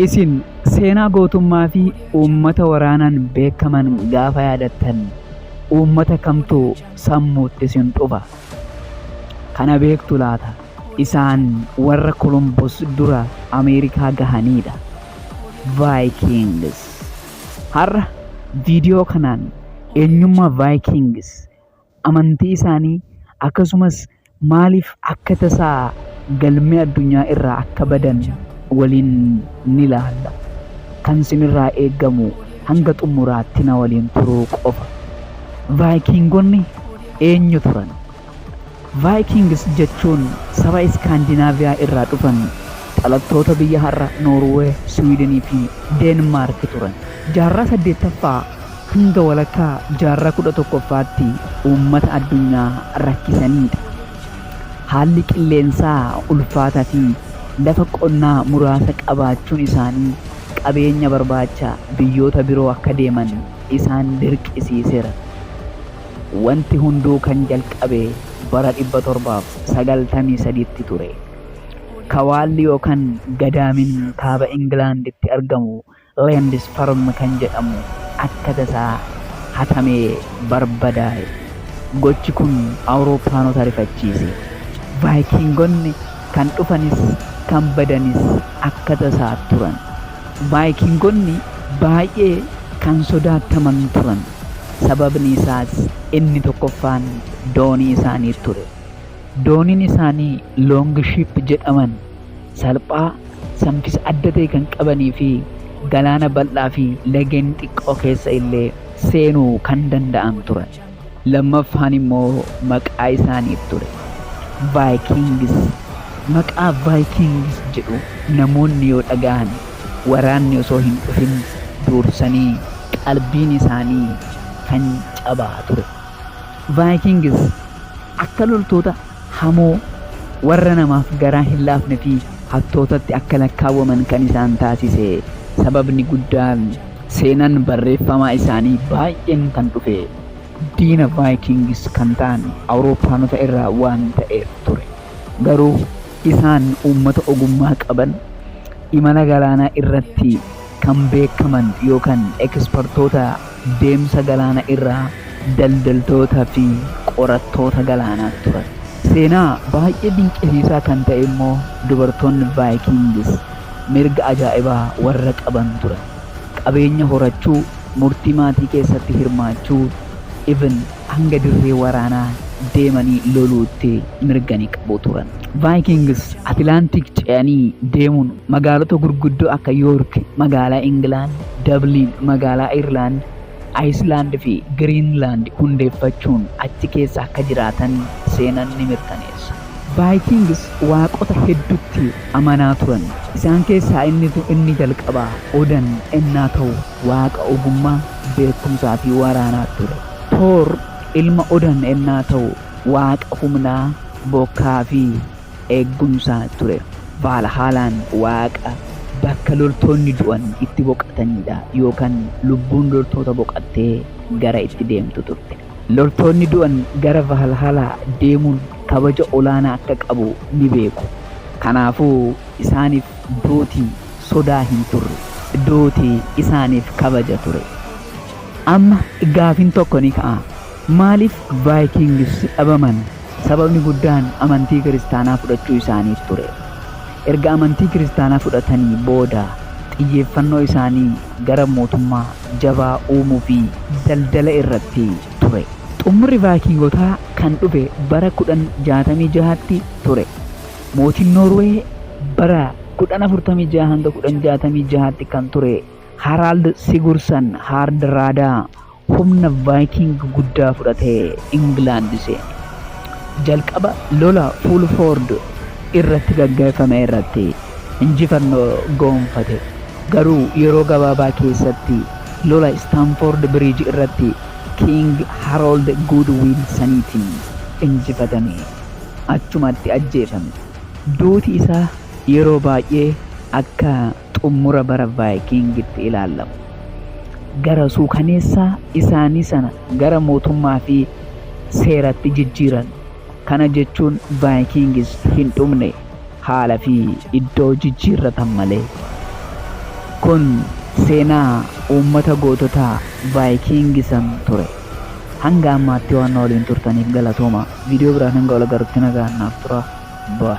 Isin seenaa gootummaa fi uummata waraanaan beekaman gaafa yaadattan uummata kamtu sammuutti isin dhufa? Kana beektu laata? Isaan warra Kolombos dura Ameerikaa gahaniidha. Vikings. Har'a viidiyoo kanaan eenyummaa Vikings amantii isaanii akkasumas maaliif akka tasaa galmee addunyaa irraa akka badan waliin ni laalla. Kan sinirraa eegamu hanga xumuraatti na waliin turuu qofa. Vaayikiingonni eenyu turan? Vaayikiingis jechuun saba Iskaandinaaviyaa irraa dhufan dhalattoota biyya har'a Noorwee, Siwiidinii fi Deenmaarki turan. Jaarraa 8ffaa hanga walakkaa jaarraa 11ffaatti uummata addunyaa rakkisaniidha. Haalli qilleensaa ulfaataa fi lafa qonnaa muraasa qabaachuun isaanii qabeenya barbaacha biyyoota biroo akka deeman isaan dirqisiiseera. Wanti hunduu kan jalqabe bara 793tti ture. Kawaalli yookan Gadaamin kaaba Ingilaanditti argamu Leendisparm kan jedhamu akka tasaa hatamee barbadaa'e. Gochi kun Awurooppaanota rifachiise. Vaayikiingonni kan dhufanis kan badanis akka tasaa turan. Vaayikiingonni baay'ee kan sodaataman turan, sababni isaas inni tokkoffaan doonii isaanii ture. Dooniin isaanii Loongiship jedhaman. salphaa, samkisa adda ta'e kan qabanii fi galaana bal'aa fi lageen xiqqoo keessa illee seenuu kan danda'an turan. Lammaffaan immoo maqaa isaaniif ture. Vaayikingis. Maqaa Vaayikingis jedhu namoonni yoo dhagahan waraanni osoo hin dhufin duursanii qalbiin isaanii kan cabaa ture. Vaayikingis akka loltoota hamoo, warra namaaf garaa hin laafne fi hattootatti akka lakkaawwaman kan isaan taasise sababni guddaan seenan barreeffamaa isaanii baay'een kan dhufe diina Vikings kan ta'an Awurooppaanota irraa waan ta'eef ture. Garuu isaan uummata ogummaa qaban, imala galaanaa irratti kan beekaman yookan ekspertoota deemsa galaana irraa, daldaltoota fi qorattoota galaanaa turan. Seenaa baay'ee dinqisiisaa kan ta'e immoo dubartoonni Vaayikingis mirga ajaa'ibaa warra qaban turan. Qabeenya horachuu, murtii maatii keessatti hirmaachuu, even hanga dirree waraanaa deemanii loluutti mirga ni qabu turan. Vaayikings Atilaantik ce'anii deemuun magaalota gurguddoo akka Yoork, magaalaa Ingilaand, Dabliin, magaalaa Ayirlaand, Ayislaand fi Giriinlaand hundeeffachuun achi keessa akka jiraatan seenan ni mirkaneessa. Vaayikings waaqota heddutti amanaa turan. Isaan keessaa inni, inni jalqabaa Odan ennaa ta'u, waaqa ogummaa, beekumsaa fi waraanaa ture. Toor ilma Odan ennaa ta'u waaqa humnaa, bokkaa fi eegumsaa ture. Vaalhaalaan waaqa bakka loltoonni du'an itti boqataniidha yookan lubbuun loltoota boqattee gara itti deemtu turte. Loltoonni du'an gara Vaalhaalaa deemuun kabaja olaanaa akka qabu ni beeku. Kanaafuu isaaniif duuti sodaa hin turre. Duuti isaaniif kabaja ture. Amma gaafiin tokko ni ka'a. Maaliif Vikings dhabaman? Sababni guddaan amantii Kiristaanaa fudhachuu isaaniif ture. Erga amantii Kiristaanaa fudhatanii booda xiyyeeffannoo isaanii gara mootummaa jabaa uumuu fi daldala irratti ture. Xumurri Vikingotaa kan dhufe bara 1066tti ture. Mootiin Noorwee bara 1046-1066tti kan ture Harald Sigursan Haardraadaa humna Vaayikiing guddaa fudhatee Ingilaand seene. Jalqaba lola Fuulfoord irratti gaggeeffame irratti injifannoo goonfate, garuu yeroo gabaabaa keessatti lola Istaanfoord Biriij irratti Kiing Haroold Guudwiilsaniitiin injifatame, achumatti ajjeefame. Duuti isaa yeroo baay'ee akka. xummura bara Vaayikiingitti ilaallamu. Gara suukaneessaa isaanii sana gara mootummaa fi seeratti jijjiiran. Kana jechuun Vaayikiingis hin dhumne, haala fi iddoo jijjiirratan malee. Kun seenaa uummata gootota Vaayikiingisan ture. Hanga ammaatti waan na waliin turtaniif galatooma. Viidiyoo biraan hanga wal agarrutti nagaan naaf tura. Bye.